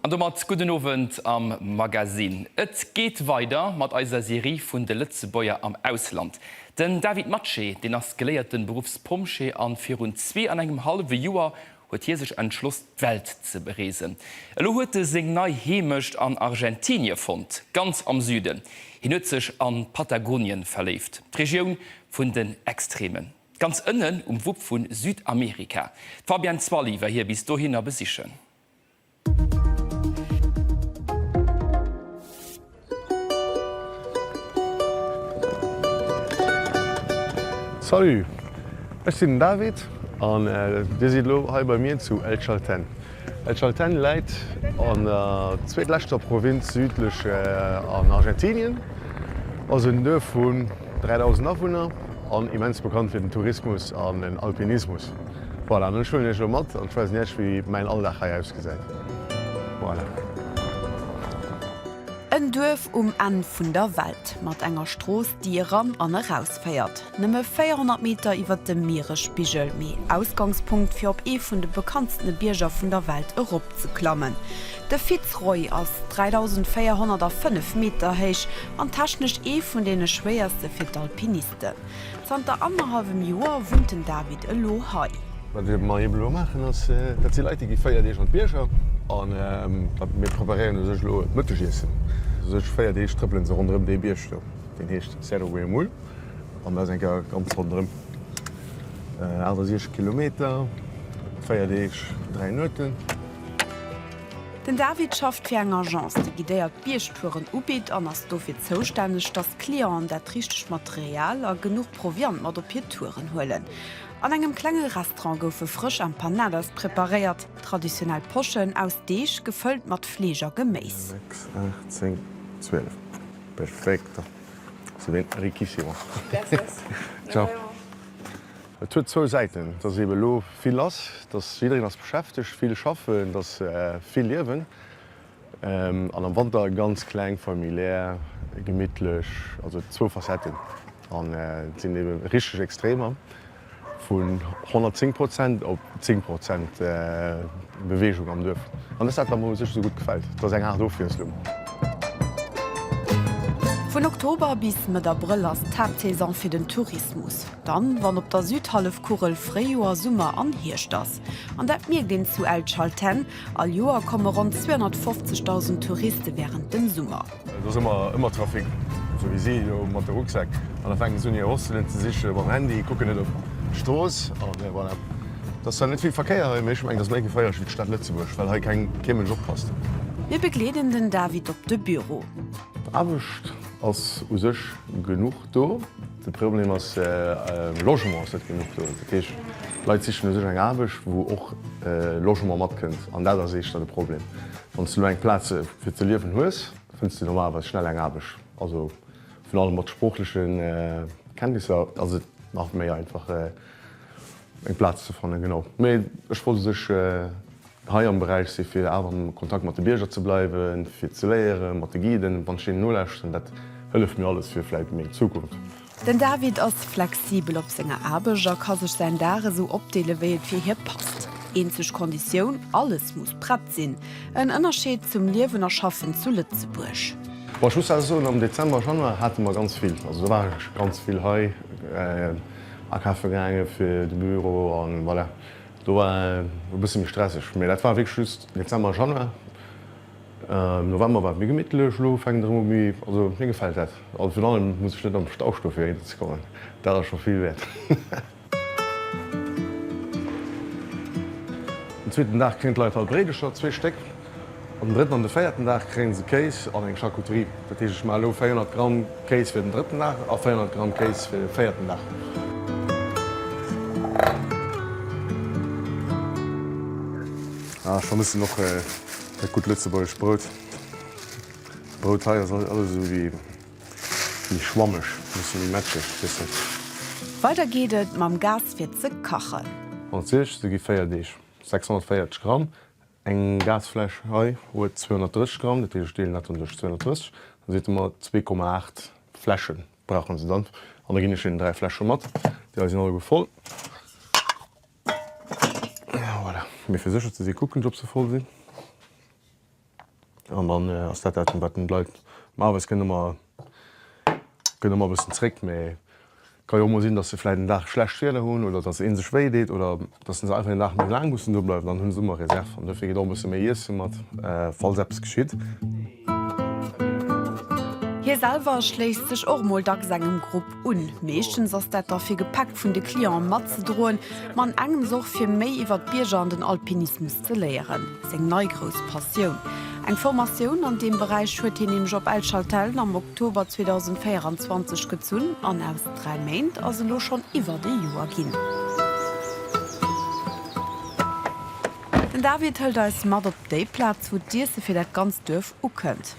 An domat gudden Owend am Magasinn. Et geet weider mat eiser Serie vun de Lëtzebuerger am Ausland. Den David Matsche, deen ass geléierten Beruffspompjee an virun zwee an engem hallwe Joer huet hie sech entschloss d'Welt ze bereesen. Elo huet e seng nei Heemecht an Argentinie fonnt, ganz am Süden. Hien huet sech an Patagonien verléift, d'Regioun vun den Extremen. Ganz ënnen um Wupp vu Südamerika. D'Fabienne Zwally war hie bis dohinner besichen. Salut, ech sinn den David an Dir sidd elo hei bei mir zu El Chaltén. El Chaltén läit an der zweetleschter Provënz südlech an Argentinien, ass en Duerf vun 3.000 Awunner an immens bekannt fir den Tourismus an den Alpinismus. Voilà, an ech huelen iech elo mat an ech weisen iech wéi mäin Alldag hei ausgesäit. Voilà. En Duerf um Enn vun der Welt, mat enger Strooss déi eran an eraus féiert. Nëmme 400 Meter iwwert dem Mieresspigel, mee Ausgangspunkt fir op ee vun de bekanntstene Bierger vun der Welt erop ze klammen. De Fitzroy ass 3.405 Meter héich an technesch ee vun deene schwéierste fir d'Alpinisten. Zanter annerhallwem Joer wunnt den David elo hei. Wat mer eben elo maachen ass, dat si Leit, déi gi 4 Deeg an d'Bierger. An mir preparéieren u sech elo d'Mëttegiessen. U sech 4 Deeg trëppelen se ronderëm dee Bierg do, deen heescht Cerro Huemul. An dat ass eng Kéier ganz ronderëm, 68 Kilometer, 4 Deeg, 3 Nueten. Den David schafft fir eng Agence, déi guidéiert Biergtouren ubitt an ass dofir zoustänneg, dass d'Clienten dat richtegt Material a genuch Proviant mat op hir Touren huelen. An engem klenge Restaurant goufe frësch Empanadas preparéiert, traditionell Poschen aus Deeg, gefëllt mat Fleesch a Geméis. Et huet zwou Säiten, dass eebe lo vill ass, dass jiddereen ass beschäftegt, vill schaffen, et ass vill Liewen an am Wanter ganz kleng, familiär, gemittlech, also zwou Facetten an et sinn eebe richteg Extremer vun 110 Prozent op 10 Prozent Beweegung am Duerf an dass dat der mol u sech esou gutt gefält, et ass eng Aart Ofwiesslung. Vun Oktober bis Mëtt Abrëll ass d'Haaptsaison fir den Tourismus. Dann, wann op der Südhallefkugel Fréijoer, Summer an Hierscht ass. An dat mierkt een zu El Chaltén. All Joer komme ronn 250.000 Touriste wärend dem Summer. Et ass ëmmer, ëmmer Trafic, esou wéi si elo mat de Rucksäck. An da fänken se un hir Hosselen ze siche mam Handy, kucken net op d'Strooss. A voilà, et ass zwar net vill Verkéier hei, mee ech mengen, et ass méi geféierlech wéi d'Stad Lëtzebuerg, well hei keng, kee Mënsch oppasst. Mir begleeden den David op de Büro. Aarbecht ass u sech genuch. Do. De Problem ass, Logement ass net genuch do. Dat heescht, Leit sichen u sech eng Aarbecht, wou och Logement matkënnt. An dat ass éischter de Problem. Wann s de elo eng Plaz fir ze liewen hues, fënns de normalerweis schnell eng Aarbecht. Also virun allem mat sproochleche Kenntnisser ass et nach méi einfach, eng Plaz ze fannen. Genau. Mee ech wollt u sech hei am Beräich si fir awer am Kontakt mat de Bierger ze bleiwen, fir ze léieren, mat de Guiden, wann ech deenen nolauschteren, dat hëlleft mir alles fir vläit meng Zukunft. Den David ass flexibel op senger Aarbecht a ka sech säin Dag esou opdeele wéi et fir hie passt. Eenzeg Konditioun, alles muss prett sinn. En Ënnerscheed zum Liewen a Schaffen zu Lëtzebuerg. Bon, ech muss awer soen, am Dezember, Januar hate mer ganz vill, also do war ech ganz vill hei akafe gaangen fir de Büro a voilà. Do war e bësse méi stresseg, mä dat war wierklech just Dezember, Januar. Am November war et méi gemittlech, elo fänkt et erëm u méi, also mir gefält dat. A virun allem muss ech net am Stau stoe fir hei ze kommen, dat ass scho vill wäert. Den zweeten Dag kréien d'Leit al Bréidecher, zwee Stéck. Op den drëtten an de véierten Dag kréien se Kéis an eng Charcuterie. Dat heescht, ech maache elo 400 Gramm Kéis fir den drëtten Dag a 400 Gramm Kéis fir de véierten Dag. Ah, ech vermëssen och dat gutt lëtzebuergescht Brout. Brout hei ass alles esou ewéi méi schwammeg, e bësse méi matscheg, ech weess net. Weider geet et mam Gas fir ze kachen. Franséisch, se gi 4 Deeg, 640 Gramm, Eng Gasfläsch hei huet 230 Gramm, dat heescht, ech deelen dat dann duerch 230, da sidd Der mat 2,8 Fläsche brauche se dann. An da ginn ech hinnen 3 Fläsche mat. Déi hei sinn alleguer voll. Voilà, mee fir sécher ze si kucken ech, ob se voll sinn. An dann ass dat dat, wat bleift. Normalerweis kënne mer Gëtt ëmmer e bëssen zréck, mä ka jo och mol sinn, datt se vläit en Dag schlecht Wieder hunn oder datt ee sech wéi deet oder datt se einfach een Dag méi laang mussen do bleiwen. Dann hu se ëmmer Reserv an dofir geet och e bësse méi Iesse mat, falls eppes geschitt. Hie selwer schléisst sech och mol dacks engem Grupp Un. Meeschtens ass dat da fir Gepäck vun de Clienten matzedroen, ma an engems och fir méi iwwer d'Bierger an den Alpinismus ze léieren, seng nei grouss Passioun. Eng Formatioun an deem Beräich huet hien nämlech op El Chaltén am Oktober 2024 gezunn an aus dräi Méint ass elo schonn iwwert ee Joer ginn. Den David hëlt eis mat op déi Plaz, wou d'Iesse fir dat ganzt Duerf ukënnt.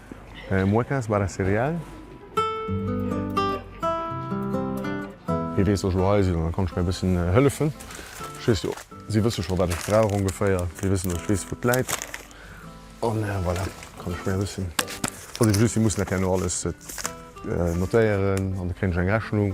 Muecas barra cereal. Hie weess och, Hei sinn ech, da kann ech mär e bëssen hëllefen. Ech weess jo, si wësse scho, wat ech brauch ongeféier. Si wëssen, ech weess, wou et läit. An voilà, kann ech mär e bëssen, ass eben just, si mussen dat herno alles notéieren an da kréien ech eng Rechnung.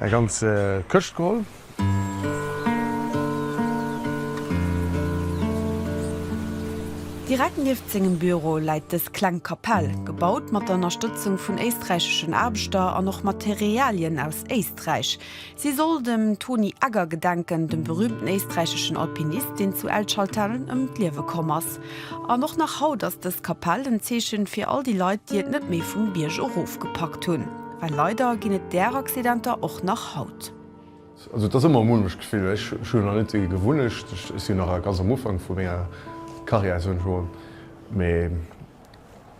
Eng ganz Këscht geholl. Direkt nieft sengem Büro läit dës kleng Kapell, gebaut mat der Ënnerstëtzung vun éisträicheschen Aarbechter an och Materialien aus Éisträich. Si soll dem Toni Egger gedenken, dem berüümten éisträicheschen Alpinist, deen zu El Chaltén ëm d'Liewe komm ass. An och nach haut ass dës Kapell en Zeechen fir all déi Leit, déi et net méi vum Bierg erof gepackt hunn. Well leider ginn et där Accidenter och nach haut. Also et ass ëmmer e mulmegt Gefill. Ech hunn nach net gewunnegt. Ech sinn nach ganz am Ufank vu menger Karriär, esou eng Joer. Mee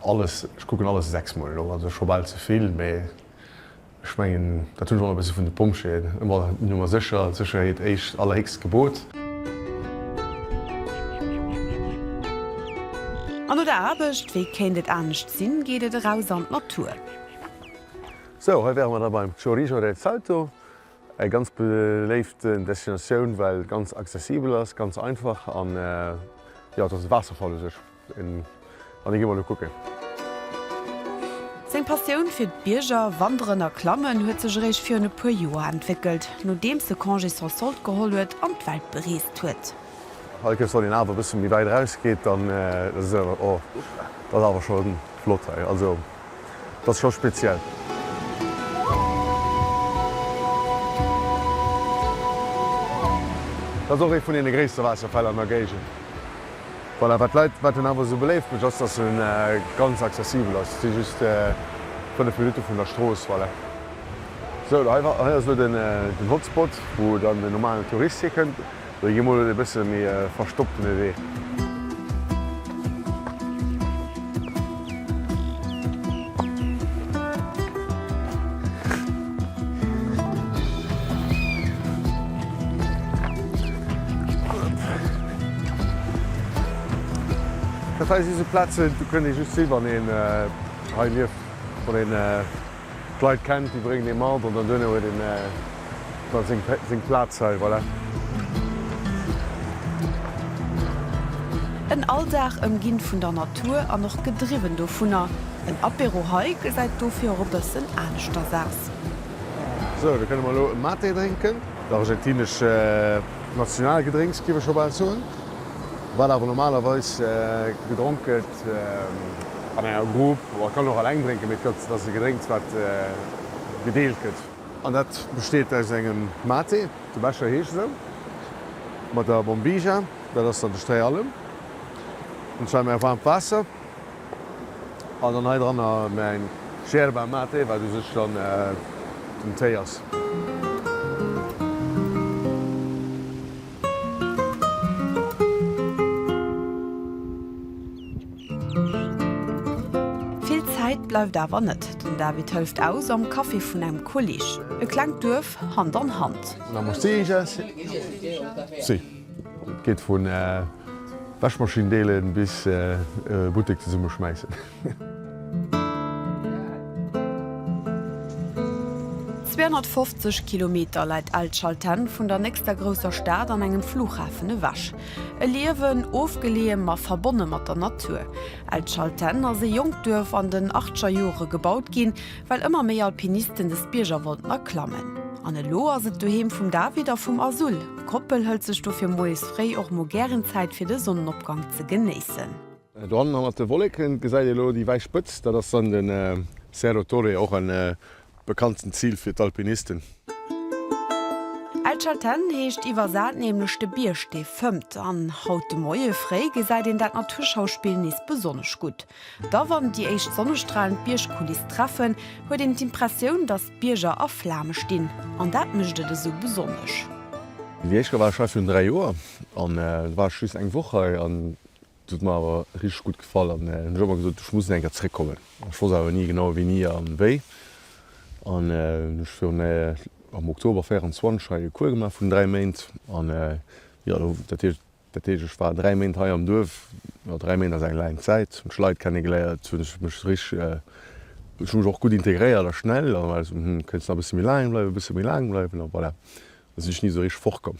alles, ech kucken alles sechs Mol elo. Also scho bal ze vill. Mee ech mengen, dat hunn ech och nach e bësse vun de Pompjeeën, ëmmer Nummer sécher, d'Sécherheet éischt, allerhéchst Gebot. An no der Aarbecht, wéi kéint et anescht sinn, geet et eraus an d'Natur. Sou, hei wäre mer da beim Chorizo del Salto, eng ganz beléift Destinatioun, well ganz accessibel ass, ganz einfach an jo, et ass e Waasserfall u sech an dee gi mer elo kucken. Seng Passioun fir d'Bierger, Wanderen a Klammen huet sech eréischt virun e puer Joer entwéckelt, nodeems e Congé sans solde geholl huet an d'Welt bereest huet. Hei kënnst du an een Aarf e bësse méi wäit erausgeet, an dat ass awer scho flott hei. Dat ass scho speziell. Dat ass och ee vun deene gréisste Waasserfäll an der Géigend. Voilà, wat d'Leit, wat en awer esou beléift mécht, ass, dass e ganz accessibel ass. Et si just fënnef Minutte vun der Strooss. Voilà. Sou, hei ass elo den Hotspot, wou dann den normalen Tourist hikënnt. Ech gi mol un e bësse méi verstopptene Wee. Dat hei si sou Plazen, do kënnt ee just si wann een hei lieft, wann een. D'Leit kennt, déi bréngt ee mat an dann duerno huet een da seng Plaz hei. Voilà. En Alldag ëmginn vun der Natur an och gedriwwen dovunner. En Apéro hei gesäit dofir och e bëssen aneschters aus. Sou, da kënne mer elo e Maté drénken. D'argentinesch Nationalgedrénks, géif ech scho bal soen, wat awer normalerweis gedronk gëtt. et an enger Grupp oder kann och alleng drénken, mee et gëtt, dat ass e Gedrénks wat gedeelt gëtt. An dat besteet aus engem Mate, de Becher heescht esou, mat der Bombija, dat ass dann de Sträi Alem, an zwar mä waarmt Waasser an dann hei dranner mäin Yerba Mate, wat u sech dann den Téi ass. Vill Zäit bleift awer net. Den David hëlleft aus am Café vun engem Kolleg. E klengt Duerf, Hand an Hand. Et geet vu Wäschmaschindeelen bis Buttek zesummeschmäissen. 250 Kilometer läit El Chalten vun der nächster grousser Stad an engem Flughafen ewech. E Liewen, ofgeleeë ma verbonne mat der Natur. El Chalten ass e jonkt Duerf an den achtscher Jore gebaut ginn, well ëmmer méi Alpinisten des Bierger wollten erklammen. An elo ass et d'Doheem vum David a vum Azul. D'Koppel hëlt sech dofir moies fréi och mol gären Zäit fir de Sonnenopgang ze genéissen. Do hannen hannert de Wolleken gesäit ee lo déi wäiss Spëtzt, dat ass dann den Cerro Torre, och en bekanntend Zil fir d'Alpinisten. El Chaltén heescht iwwersat nämlech de Bierg dee fëmmt, an haut de Moie fréi gesäit een dat Naturschauspill nees besonnesch gutt. Da wann déi éischt Sonnestralen d'Biergkuliss treffen, huet een d'Impressioun, datt d'Bierger a Flame stinn, an dat mécht et esou besonnesch. Déi éischt Gewaascherei vun dräi Joer, an et war ech just eng Woch hei, an Dat huet mer awer richteg gutt gefall an hunn ëmmer gesot, ech muss nach eng Kéier zréckkommen. Ech wosst awer ni genau wéini an wéi an hunn ech virun am Oktober 24 hei e Cours gemaach vun 3 Méint an jo do dat heescht dat heescht ech war 3 Méint hei am Duerf. Jo 3 Méint ass eng laang Zäit, hunn d'Leit kennegeléiert, hunn ech mech richteg ech hu mech och gutt integréiert a schnell a hu wëlles hm kéinst nach e bësse méi laang bleiwen, e bësse méi laang bleiwen a voilà. Do sinn ech ni esou richteg fortkomm.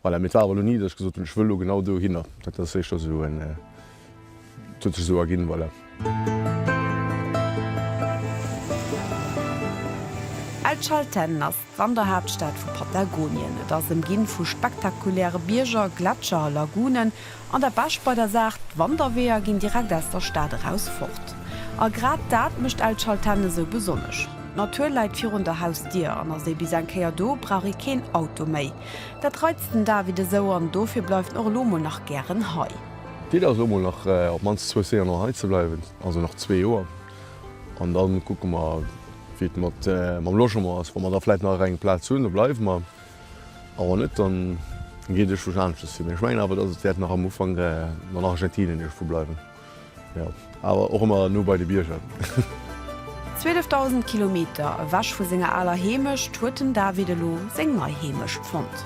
Voilà, mee et war awer elo ni, datt ech gesot hunn, ech wëll elo genau dohinner. Dat ass éischter esou en, et huet sech esou erginn, voilà. El Chaltén ass d'Wanderhaaptstad vu Patagonien. Et ass ëmginn vu spektakuläre Bierger, Gletscher a Lagunen. An dat Bescht bei der Saach, d'Wanderweeër ginn direkt aus der Stad eraus fort. A grad dat mécht El Chaltén esou besonnesch. D'Natur läit virun der Hausdier an ass ee bis eng Kéier do, brauch ee keen Auto méi. Dat reizt den David esou an dofir bleift en och elo mol nach gären hei. D'Iddi ass elo mol nach op d'mannst zwou Séjourner hei ze bleiwen, also nach zwee Joer. An da kucke mer, wéi et mam Logement ass. Wa mer da vläicht nach ereng Plaz hunn, da bleiwe mer. A wann net, dann geet ech wech aaneschters fir. Mee ech mengen awer, dass et wärt nach am Ufank an Argentinien iergfu bleiwen. Jo, awer och emmer no bei de Bierger. 12.000 Kilometer ewech vu senger aler Heemecht huet den David elo seng nei Heemecht fonnt.